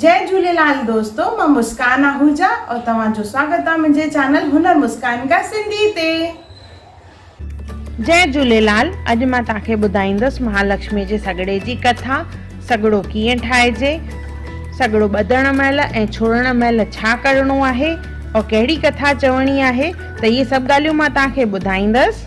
جئي جهوليلال دوستو مان مسڪان آهوجا اور توهان جو سواگت آ منهنجي چينل هنر مسڪان ڪا سنڌي تي. جئي جهوليلال اڄ مان توهان کي ٻڌائيندس مهالڪشمي جي سڳڙي جي ڪٿا سڳڙو ڪيئن ٺاهجي سڳڙو ٻڌڻ مهل ۽ ڇوڙڻ مهل ڇا ڪرڻو آهي اور ڪهڙي ڪٿا چوڻي آهي ته اهي سڀ ڳالهيون مان توهان کي ٻڌائيندس.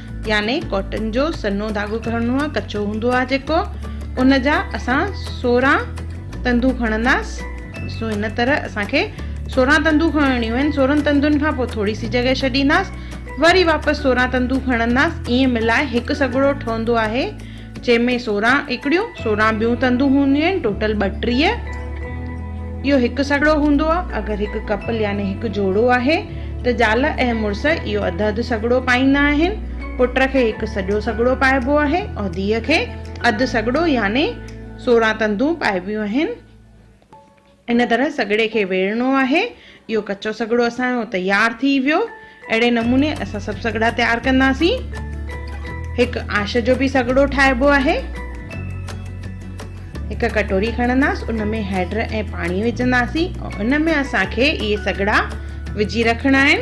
يعني ڪاٽن جو سنهو ڌاڳو کڻڻو آهي ڪچو هوندو آهي جيڪو ان جا اسان سورهن تندون کڻنداس ڏسو هن طرح اسان کي سورهن تندون کڻڻيون آهن سورهن تندن کان پوء ٿوري سي جڳهه ڇڏينداس وري واپس سورهن تندون کڻنداس ائين ملائي هڪ سڳڙو ٺهندو آهي جنهن ۾ سورهن اڪڙيون، سورهن ٻيون تندون هونديون آهن، ٽوٽل ٻٽيهه. اهو هڪ سڳڙو هوندو آهي. اگر هڪ ڪپل يعني هڪ جوڙو آهي ته زال ۽ مڙس اهو اڌ اڌ سڳڙو پائيندا آهن. پٽ کي هڪ سڄو سڳڙو پائبو آهي ۽ ڌيء کي اڌ سڳڙو يعني سورهن تندون پائبيون آهن. ان طرح سڳڙي کي ويڙهڻو آهي. اهو ڪچو سڳڙو اسان جو تيار ٿي ويو. اهڙي نموني اسان سڀ سڳڙا تيار ڪنداسين. هڪ آش جو به سڳڙو ٺاهبو آهي. هڪ ڪٽوري کڻنداس ان ۾ هيڊ ۽ پاڻي وجهنداسين ۽ ان ۾ اسان کي اهي سڳڙا وجهي رکڻا آهن.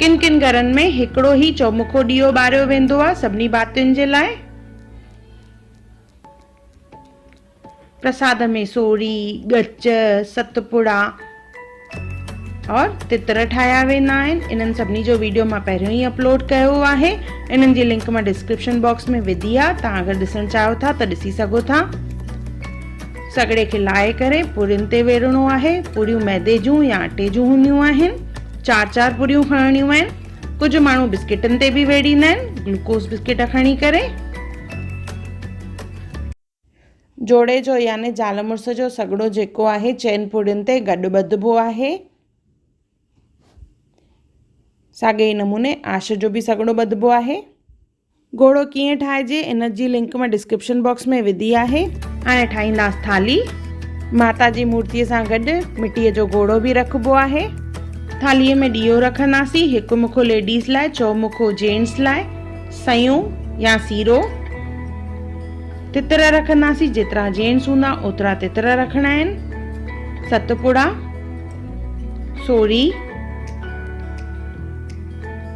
ڪن ڪن گهرن ۾ هڪڙو ئي چؤمکو ڏيئو ٻاريو ويندو آهي سڀني ڀاتين جي لاء. پرساد ۾ سوڙهي، ڳچ، ست پڙا اور تتر ٺاهيا ويندا آهن. انهن سڀني جو ويڊيو مان پهريون ئي اپلوڊ ڪيو آهي. انهن جي لنڪ مان ڊسڪرپشن باڪس ۾ وڌي آهي. توهان اگر ڏسڻ چاهيو ٿا ته ڏسي سگهو ٿا. سڳڙي کي لاهي ڪري پورين تي ويڙهڻو آهي. پوريون ميدي جون يا اٽي جون هونديون آهن. چار چار پوريون کڻڻيون آهن. ڪجهه ماڻهو بسڪيٽن تي به ويڙهيندا آهن. گلوڪوز بسڪيٽ کڻي ڪري. جوڙي جو يعني زال مڙس جو سگهڙو جيڪو آهي چئن پورين تي گڏ ٻڌبو آهي. ساڳئي ئي نموني آش جو به سگهڙو ٻڌبو آهي. گهوڙو ڪيئن ٺاهجي ان جي لنڪ مان ڊسڪرپشن باڪس ۾ وڌي آهي. هاڻي ٺاهينداس ٿالهي. ماتا جي مورتي سان گڏ مٽي جو گهوڙو به رکبو آهي. ٿالهي ۾ ڏيئو رکنداسين هڪ مکو ليڊيز لاء چئو مکو جينٽس لاء سيون يا سيرو تتر رکنداسين جيترا جينٽس هوندا اوترا تتر رکڻا آهن ست پڙا سوري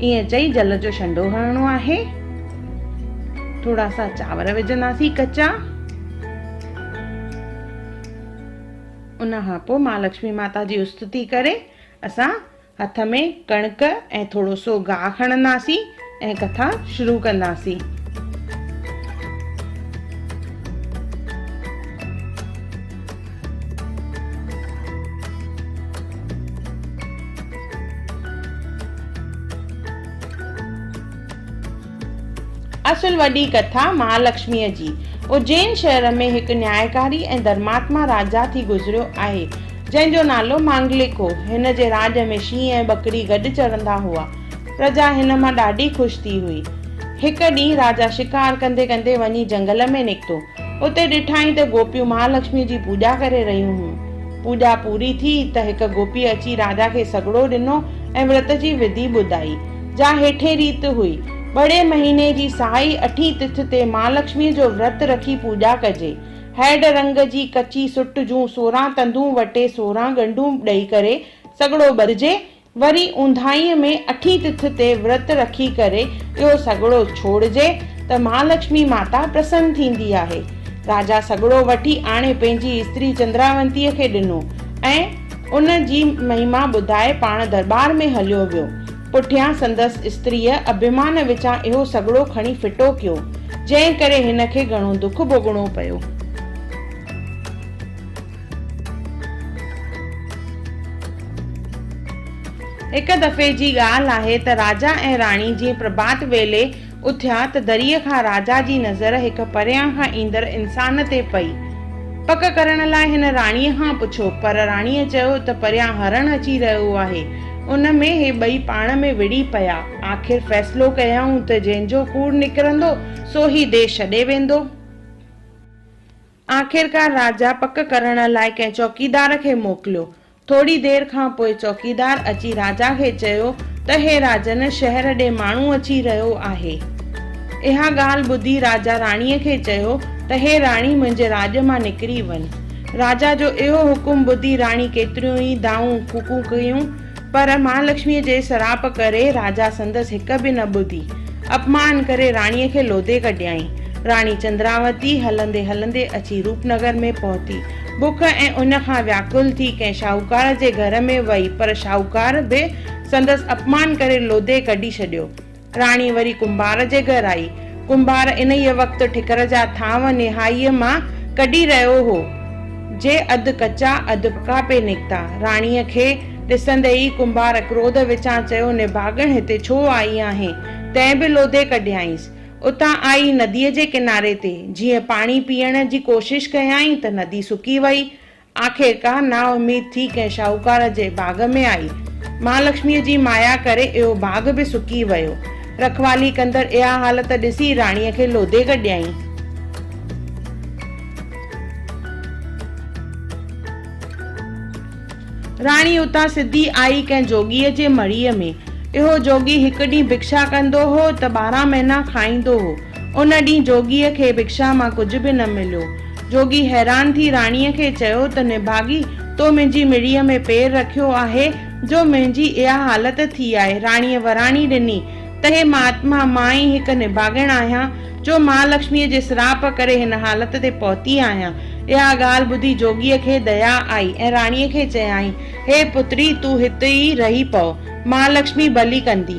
ائين چئي جل جو شنڊو هڻڻو آهي ٿورا سا چانور وجهنداسين ڪچا ان کان پوء ماء لڪشمي ماتا جي استتي ڪري اسان هٿ ۾ ڪڻڪ ۽ ٿورو سو گاهه کڻنداسين ۽ ڪٿا شروع ڪنداسين اصل وڏي ڪٿا مهالڪشميء جي اجين شهر ۾ هڪ نيائڪاري ۽ ڌرماتما راجا ٿي گذريو آهي، جنهن جو نالو مانگلڪ هو. هن جي راڄ ۾ شينهن ۽ ٻڪري گڏ چرندا هئا. پرجا هن مان ڏاڍي خوش ٿي هئي. هڪ ڏينهن راجا شڪار ڪندي ڪندي وڃي جهنگل ۾ نڪتو. اتي ڏٺائين ته گوپيون مهالڪشميء جي پوڄا ڪري رهيون هيون. پوڄا پوري ٿي ته هڪ گوپيء اچي راجا کي سڳڙو ڏنو ۽ ورت جي وڌي ٻڌائي، جا هيٺين ريت هئي، ٻڙي مهيني جي سائي اٺين تٿ تي مهالڪشميء جو ورت رکي پوڄا ڪجي. هئڊ رنگ جي ڪچي سٽ جون سورهن تندون وٽي سورهن ڳنڍون ڏئي ڪري سڳڙو ٻرجي وري اونداهيء ۾ اٺين تٿ تي ورت رکي ڪري اهو سڳڙو ڇوڙجي ته مهالڪشمي ماتا پرسن ٿيندي آهي. راجا سڳڙو وٺي آڻي پنهنجي استري چندراونتيء کي ڏنو ۽ ان جي مهما ٻڌائي پاڻ درٻار ۾ هليو ويو. پٺيان سندس استريء اڀيمان وچان اهو سڳڙو کڻي ڦٽو ڪيو، جنهن ڪري هن کي گهڻو دک ڀوڳڻو پيو. هڪ دفعي جي ڳالهه آهي ته راجا ۽ راڻي جيئن پرڀات ويلي اٿيا ته دريء کان راجا جي نظر هڪ پريان کان ايندڙ انسان تي پئي. پڪ ڪرڻ لاء هن راڻيء کان پڇيو، پر راڻيء چيو ته پريان هرڻ اچي رهيو آهي. ان ۾ هي ٻئي پاڻ ۾ وڙهي پيا. آخر فيصلو ڪيائون ته جنهن جو ڪوڙ نڪرندو، سو هي ديس ڇڏي ويندو. آخرڪار راجا پڪ ڪرڻ لاء ڪنهن چوڪيدار کي موڪليو. ٿوري دير کان پوء چوڪيدار اچي راجا کي چيو ته هي راجن شهر ڏي ماڻهو اچي رهيو آهي. اها ڳالهه ٻڌي راجا راڻيء کي چيو ته هي راڻي منهنجي راڄ مان نڪري وڃ. راجا جو اهو حڪم ٻڌي راڻي ڪيتريون ئي دانهون ڦوڪون ڪيون پر مهالڪشميء جي سراپ ڪري راجا سندس هڪ به نه ٻڌي. اپمان ڪري راڻيء کي لوڌي ڪڍيائين. راڻي چندراوتي هلندي هلندي اچي روپنگر ۾ پهتي. بک ۽ اڃ کان وياڪل ٿي ڪنهن شاهوڪار جي گهر ۾ وئي پر شاهوڪار به سندس اپمان ڪري لوڌي ڪڍي ڇڏيو. راڻي وري ڪنڀار جي گهر آئي. ڪنڀار انهيء وقت ٺڪر جا ٿانو نهائيء مان ڪڍي رهيو هو، جي اڌ ڪچا اڌ پڪا پئي نڪتا. راڻيء کي ڏسندي ئي ڪنڀار ڪروڌ وچان چيو، نڀاڳڻ هتي ڇو آئي آهين؟ تنهن به لوڌي ڪڍيائينس. اتان آئي نديء جي ڪناري تي جيئن پاڻي پيئڻ جي ڪوشش ڪيائين ته ندي سڪي وئي. آخرڪار نااميد ٿي ڪنهن شاهوڪار جي باغ ۾ آئي. مهالڪشميء جي مايا ڪري اهو باغ به سڪي ويو. رکوالي ڪندڙ اها حالت ڏسي راڻيء کي لوڌي ڪڍيائين. راڻي اتان سڌي آئي ڪنهن جوڳيء جي مڙهيء ۾. اهو جوڳي هڪ ڏينهن ڀڪشا ڪندو هو ته ٻارهن مهينا کائيندو هو. ان ڏينهن جوڳيء کي ڀڪشا مان ڪجهه به نه مليو. جوڳي حيران ٿي راڻيء کي چيو ته نڀاڳي، تو منهنجي مڙيء ۾ پير رکيو آهي، جو منهنجي اها حالت ٿي آهي. راڻيء وراڻي ڏني ته هي مهاتما، مان ئي هڪ نڀاڳڻ آهيان، جو مهالڪشميء جي سراپ ڪري هن حالت تي پهتي آهيان. اها ڳالهه ٻڌي جوڳيء کي ديا آئي ۽ راڻيء کي چيائين، هي پتڙي، تون هت ئي رهي پؤ، مهالڪشمي ڀلي ڪندي.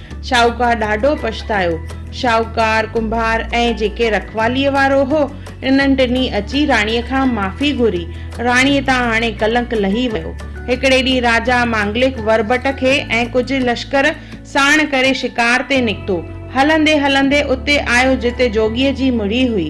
شاهوڪار ڏاڍو پڇتايو. شاهوڪار، ڪنڀار ۽ جيڪي رکواليء وارو هو، انهن ٽنهي اچي راڻيء کان معافي گهري. راڻيء تان هاڻي ڪلنڪ لهي ويو. هڪڙي ڏينهن راجا مانگلڪ وربٽ کي ۽ ڪجهه لشڪر ساڻ ڪري شڪار تي نڪتو. هلندي هلندي اتي آيو جتي جوڳيء جي مڙهي هئي.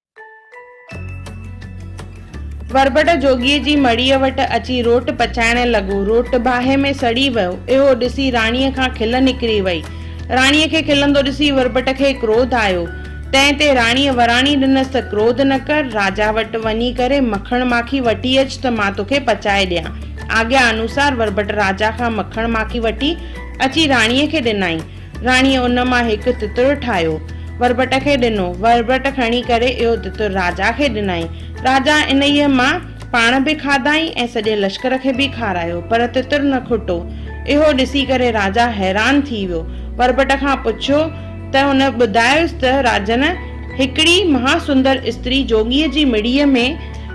وربٽ جوڳيء جي مڙيء وٽ اچي روٽ پچائڻ لڳو. روٽ باهه ۾ سڙي ويو. اهو ڏسي راڻيء کان کل نڪري وئي. راڻيء کي کلندو ڏسي وربٽ کي ڪروڌ آيو. تنهن تي راڻيء وراڻي ڏنس ته ڪروڌ نه ڪر، راجا وٽ وڃي ڪري مکڻ ماکي وٺي اچ ته مان توکي پچائي ڏيان. آگيا انوسار وربٽ راجا کان مکڻ ماکي وٺي اچي راڻيء کي ڏنائين. راڻيء ان مان هڪ تتر ٺاهيو، وربٽ کي ڏنو. وربٽ کڻي ڪري اهو تتر راجا کي ڏنائين. راجا انهيء مان پاڻ به کاڌائين ۽ سڄي لشڪر کي به کارايو، پر تتر نه کٽو. اهو ڏسي ڪري راجا حيران ٿي ويو. وربٽ کان پڇيو ته هن ٻڌايس ته راجن، هڪڙي مها سندر استري جوڳيء جي مڙيء ۾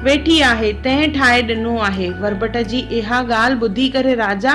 ويٺي آهي، تنهن ٺاهي ڏنو آهي. وربٽ جي اها ڳالهه ٻڌي ڪري راجا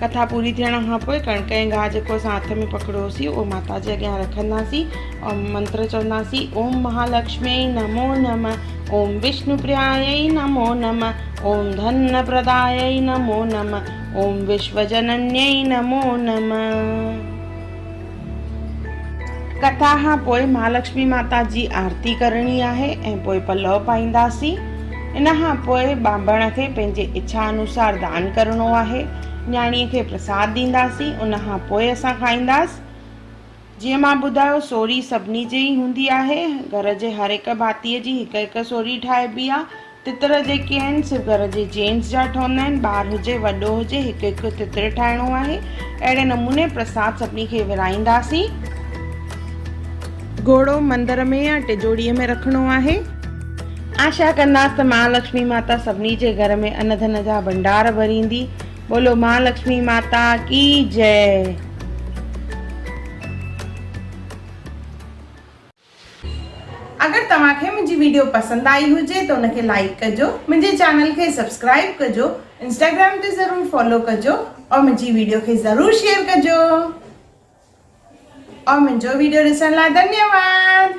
ڪٿا پوري ٿيڻ کان پوء ڪڻڪ ۽ گاهه جيڪو اسان هٿ ۾ پڪڙيوسين اهو ماتا جي اڳيان رکنداسين ۽ منتر چونداسين اوم مهالڪشمي نمو نم اوم وشنو پرياي نمو نم اوم ڌن پرداي نمو نم اوم وشو جنني نمو نم ڪٿا کان پوء مھالڪشمي ماتا جي آرتي ڪرڻي آھي ۽ پوء پلؤ پائينداسين. ان کان پوء ٻانڀڻ کي پنھنجي اڇا انوسار دان ڪرڻو آھي. نياڻيء کي پرساد ڏينداسين ان کان پوء اسان کائينداس. جيئن مان ٻڌايو سوري سڀني جي ئي ھوندي آھي. گھر جي ھر ھڪ ڀاتيء جي ھڪ ھڪ سوري ٺاھبي آ. تتر جيڪي آهن سو گهر جي جينٽس جا ٺهندا آهن، ٻار هجي وڏو هجي هڪ هڪ تتر ٺاهڻو آهي، اهڙي نموني پرساد سڀني کي ورهائينداسين. گهوڙو مندر ۾ يا ٽجوڙي ۾ رکڻو آهي. آشا ڪنداس ته مهالڪشمي ماتا سڀني جي گهر ۾ ان ڌن جا ڀنڊار ڀريندي. ٻولو مهالڪشمي ماتا ڪي جئه. اگر توهان کي منهنجي ويڊيو پسند آئي هجي ته ان کي لائيڪ ڪجو منهنجي چينل کي سبسڪرائيب ڪجو انسٽاگرام تي ضرور فالو ڪجو اور منهنجي ويڊيو کي ضرور شيئر ڪجو اور منهنجو ويڊيو ڏسڻ لاء ڌنيواد.